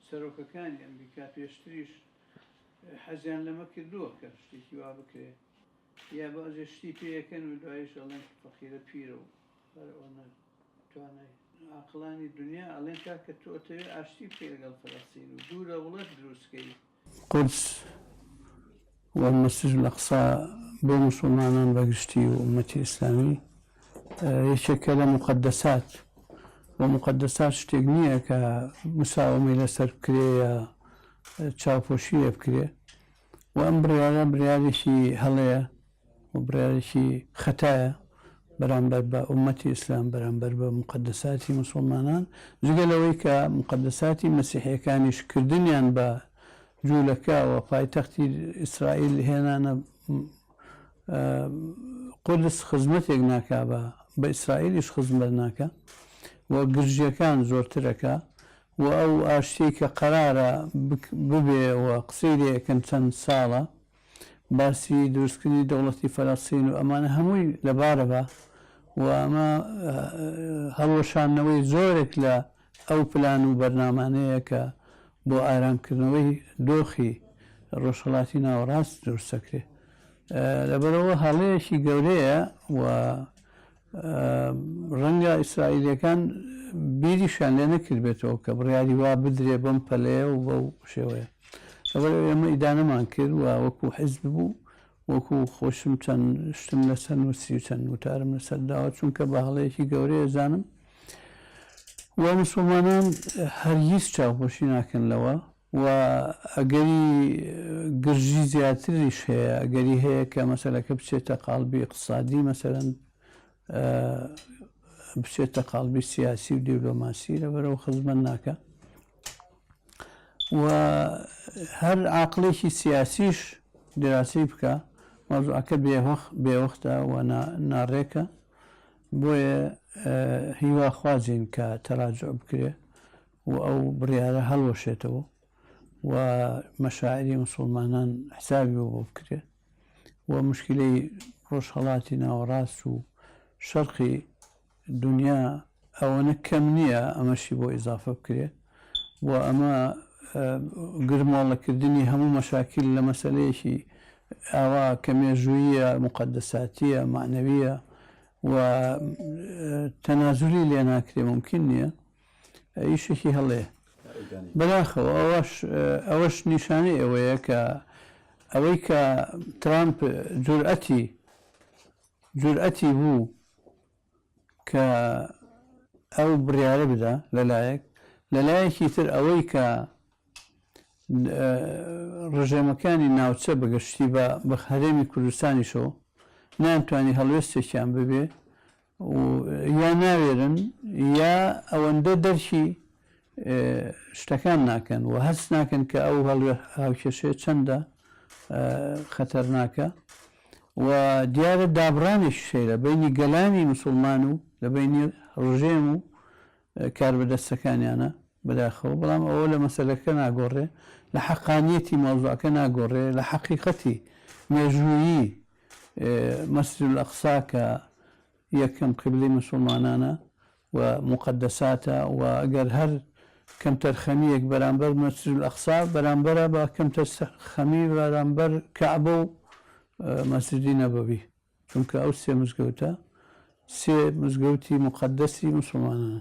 سەرۆکەکانی ئەمریکا پێشتریش حەزیان لەمە کردووە کە شتێکی وا بکرێ یا بەعزێ شتی پێ ئەکەن و دوایش ئەڵێن فەقیرە پیرە و فەرعۆنە نە توانای عاقڵانی دونیا ئەڵێن کاکە تۆ ئەتەوێ ئاشتی بکەی لەگەڵ فەلەستین و دوو دەوڵەت دروست کەی قودس و مەسجد الاقصی بۆ موسوڵمانان بە گشتی و ئومەتی ئیسلامی یەکێکە لە موقەدەسات و موقەدەسات شتێک نییە کە مساوەمەی لەسەر بکرێ یا چاوپۆشی لێ بکرێ و ئەم بڕیارە بڕیارێکی هەڵەیە بڕیارێکی خەتایە بەرامبەر بە ئوممەتی ئیسلام، بەرامبەر بە موقەدەساتی موسوڵمانان، جگە لەوەی کە موقەدەساتی مەسیحییەکانیش کردنیان بە جوولەکە و پایتەختی ئیسرائیل هێنانە قودس خزمەتێک ناکا بە بە ئیسرائیلیش خزمەت ناکا و گرژییەکان زۆرتر ئەکا و ئەو ئاشتیەی کە قەرارە ببێ و قسەی لێ ئەکەن چەند ساڵە باسی دروستکردنی دەوڵەتی فەلەستین و ئەمانە هەمووی لەبارە بە و ئەمە هەڵوەشاندنەوەی زۆرێک لە ئەو پلان و بەرنامانەیە کە بۆ ئارامکردنەوەی دۆخی ڕۆژهەڵاتی ناوەڕاست دروست دەکرێت لەبەرەوە هەڵەیەکی گەورەیە و ڕەنگە ئیسرائیلییەکان بیریشیان لێ نەکردبێتەوە کە بڕیاری وا بدرێ بەم پەلەیە و بەو شێوەیە لەبەر ئێمە ئیدانەمان کرد و وەکو حزب بوو وەکو خۆشم چەند شتم لەسەر نووسی و چەند وتارم لەسەر داوە چونکە بە هەڵەیەکی گەورەیە زانم و مسلمانان هەرگیز چاوپۆشی ناکەن لەوە و ئەگەری گرژی زیاتریش هەیە، ئەگەری هەیە کە مەسەلەکە بچێتە قاڵبی ئیقتسادی مەسەلەن بچێتە قاڵبی سیاسی و دیبلۆماسی لەبەرەوە خزمەت ناکە و هەر عقلێکی سیاسیش دراسی بکە مەزعکە بێوەخ بێوەختە و ناڕێکە بۆیە هیواخوازین کە تەراجع بکرێ و ئەو بڕیارە هەڵوەشێتەوە و مەشاعری مسوڵمانان حسابی بۆ بکرێت و مشکلەی ڕۆژهەڵاتی ناوەڕاست و شەرقی دنیا ئەوەنە کەم نییە ئەمەشی بۆ ئیزافە بکرێت و ئەمە گرمۆڵەکردنی هەموو مەشاکیل لە مەسەلەیەکی ئاوا کە مێژوویە مقدساتیە معنەویە و تەنازولی لێ ناکرێ ممکن نییە ئیشێکی هەڵەیە بەداخەوە ئەوەش ئەوەش نیشانەی ئەوەیە کە ئەوەی کە ترامپ جورئەتی جورئەتی بوو کە ئەو بڕیارە بدا لەلایەک لەلایەکی تر ئەوەی کە ڕژێمەکانی ناوچە بەگەشتی بە بە هەرێمی کوردستانیشەوە نانتوانی هەڵوێستێکیان ببێ و یا ناوێرن یا ئەوەندە دەرکی شتەکان ناکەن و هەست ناکەن کە ئەو هەڵوێ هاوکێشەیە چەندە خەتەرناکە و دیارە دابڕانێکی سەیرە بینی گەلانی مسلمان و لە بینی ڕژێم و کاربەدەستەکانیانە بەداخەوە بەڵام ئەوە لە مەسلەکە ناگۆڕێ لە حەقانیەتی مۆزوعەکە ناگۆڕێ لە حەقیقەتی مێژوویی مەسجد الاقصی کە یەکەم قیبلەی موسوڵمانانە و موقەدەساتە و گەر هەر کەمتەرخەمییەک بەرامبەر مەسجد الاقصی بەرامبەرە بە کەمتەرخەمی بەرامبەر کەعبە و مەسجدی نەبەوی چونکە ئەو سێ مزگەوتە سێ مزگەوتی موقەدەسی موسوڵمانانە.